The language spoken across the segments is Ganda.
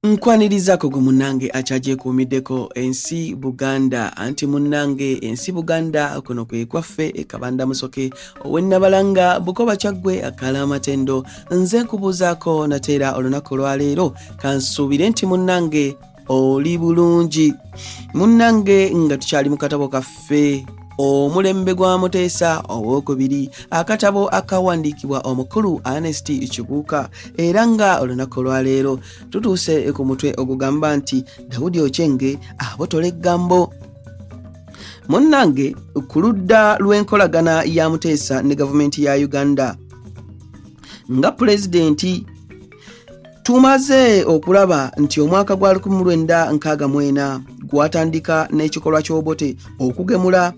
Nkwanirizaako gwe munnange akyagyekuumiddeko ensi Buganda anti munnange ensi Buganda kuno kwe kwaffe e Kabanda Musoke ow'e Nabalanga Bukoba Kyaggwe akaala amatendo nze nkubuuzaako nate era olunaku olwaleero kansuubire nti munnange oli bulungi munnange nga tukyali mu katabo kaffe ffe omulembe gwa muteesa owokubiri akatabo akawandiikibwa omukulu anest kibuuka era nga olunaku olwaleero tutuuse ku mutwe ogugamba nti dawudi okyenge abotola eggambo munnange ku ludda lw'enkolagana ya muteesa ne gavumenti ya uganda nga pulezidenti tumaze okulaba nti omwaka gwa 1964 gwatandika n'ekikolwa ky'obote okugemula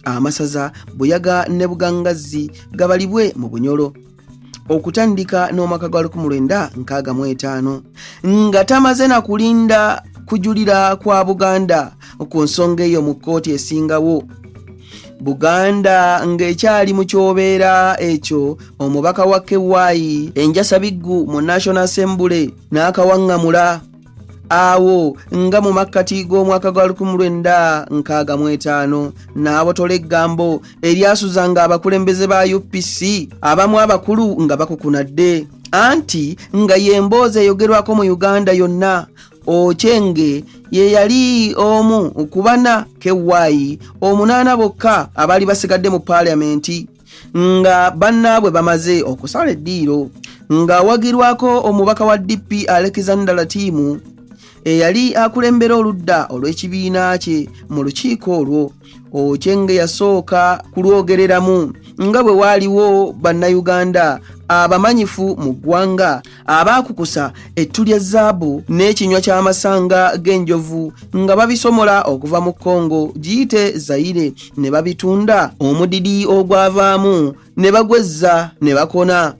amasaza buyaga ne bugangazzi gabalibwe mu bunyolo okutandika n'omwaka gwa 1965 nga tamaze na kulinda kujulira kwa buganda ku nsonga eyo mu kkooti esingawo buganda ng'ekyali mu kyobeera ekyo omubaka wa kewayi enjasa biggu mu national assembly n'akawaŋŋamula awo nga mu makkati g'omwaka gwa 1965 n'abotola eggambo eryasuzanga abakulembeze ba upc abamu abakulu nga bakukunadde anti nga y'emboozi eyogerwako mu uganda yonna Ochenge ye yali omu ku bana kewayi omunaana bokka abaali basigadde mu paaliyamenti nga bannaabwe bamaze okusala eddiiro ng'awagirwako omubaka wa DP Alexander Latimu eyali akulembera oludda olw'ekibiina kye mu lukiiko olwo Ochenge yasooka kulwogereramu nga bwe waaliwo Bannayuganda abamanyifu mu ggwanga abaakukusa ettu lya zaabu n'ekinywa ky'amasanga g'enjovu nga babisomola okuva mu kongo giyite zayire ne babitunda omudidi ogwavaamu ne bagwezza ne bakona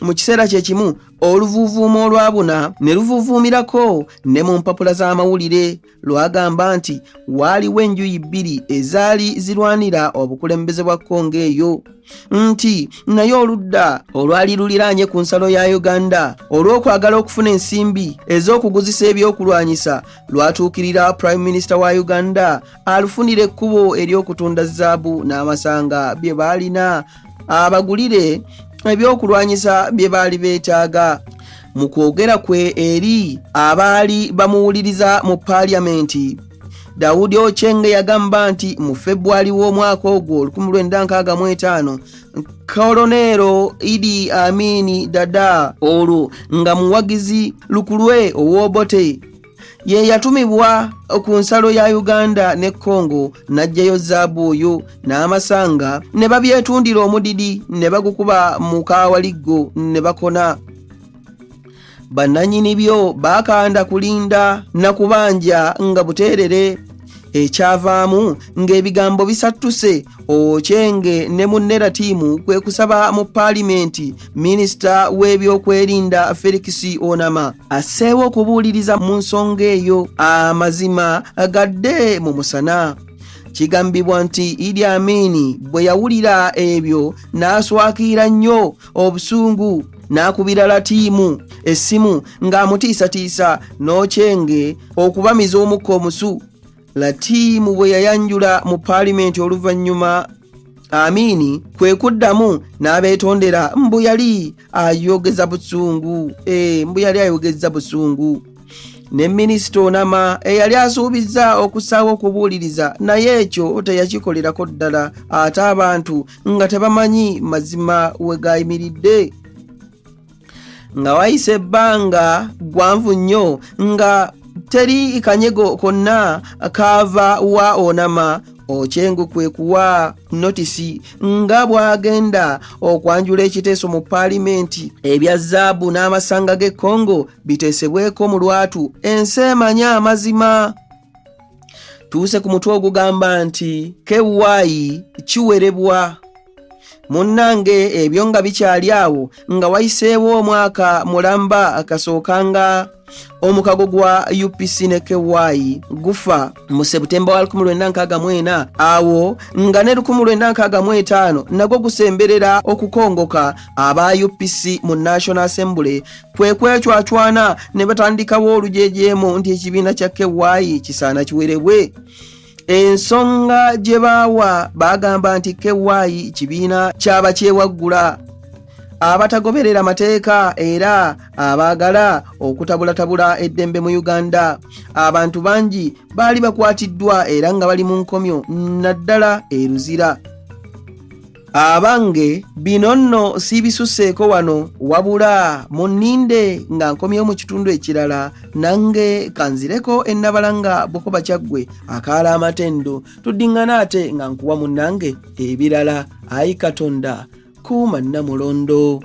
mu kiseera kye kimu oluvuuvuumo olwabuna ne luvuuvuumirako ne mu mpapula z'amawulire lwagamba nti waaliwo enjuyi bbiri ezaali zirwanira obukulembeze bwa kongo eyo nti naye oludda olwali luliraanye ku nsalo ya uganda olw'okwagala okufuna ensimbi ez'okuguzisa ebyokulwanyisa lwatuukirira prime minisita wa uganda alufunira ekkubo ery'okutunda zaabu n'amasanga bye baalina abagulire ebyokulwanyisa bye baali beetaaga mu kwogera kwe eri abaali bamuwuliriza mu paaliyamenti dawudi ochenge yagamba nti mu febwali w'omwaka ogwo 1965 koloneero idi amini dada olwo nga muwagizi lukulwe owobote ye yatumibwa ku nsalo ya uganda ne congo n'aggyayo zaabu oyo n'amasanga ne babyetundira omudidi ne bagukuba mu kaawaliggo ne bakona bannanyini byo bakanda kulinda na kubanja nga buteerere ekyavaamu ng'ebigambo bisattuse okyenge ne munnera tiimu kwe kusaba mu paalimenti minisita w'ebyokwerinda felix onama asseewo okubuuliriza mu nsonga eyo amazima gadde mu musana kigambibwa nti idi amini bwe yawulira ebyo n'aswakiira nnyo obusungu n'akubira latiimu essimu ng'amutiisatiisa n'okyenge okubamiza omukka omusu latiimu bwe yayanjula mu paalimenti oluvannyuma amiini kwe kuddamu n'abeetondera mbu yali ayogeza busungu e mbu yali ayogeza busungu ne minisita onama eyali asuubizza okusaawo okubuuliriza naye ekyo teyakikolerako ddala ate abantu nga tebamanyi mazima we gayimiridde nga wayise ebbanga gwanvu nnyo nga teri kanyego konna kaava wa onama okyengo kwe kuwa notisi nga bw'agenda okwanjula ekiteeso mu paalimenti ebya zaabu n'amasanga g'e congo biteesebweko mu lwatu ensi emanye amazima tuuse ku mutwe ogugamba nti kewaayi kiwerebwa munnange ebyo nga bikyali awo nga wayiseewo omwaka mulamba akasooka nga omukago gwa upc ne ky gufa mu sebutemba wa 1964 awo nga ne 1965 nagwo gusemberera okukongoka aba upc mu national assembly kwe kwecwacwana ne batandikawo olujejeemu nti ekibiina kya kewayi kisaana kiwerebwe ensonga gye baawa baagamba nti kewayi kibiina kyaba kyewaggula abatagoberera mateeka era abaagala okutabulatabula eddembe mu uganda abantu bangi baali bakwatiddwa era nga bali mu nkomyo naddala eruzira abange bino nno siibisuseeko wano wabula munninde nga nkomyewo mu kitundu ekirala nange kanzireko ennabala nga bukoba kyaggwe akaala amatendo tuddiŋŋana ate nga nkuwa munnange ebirala ayi katonda kuuma nnamulondo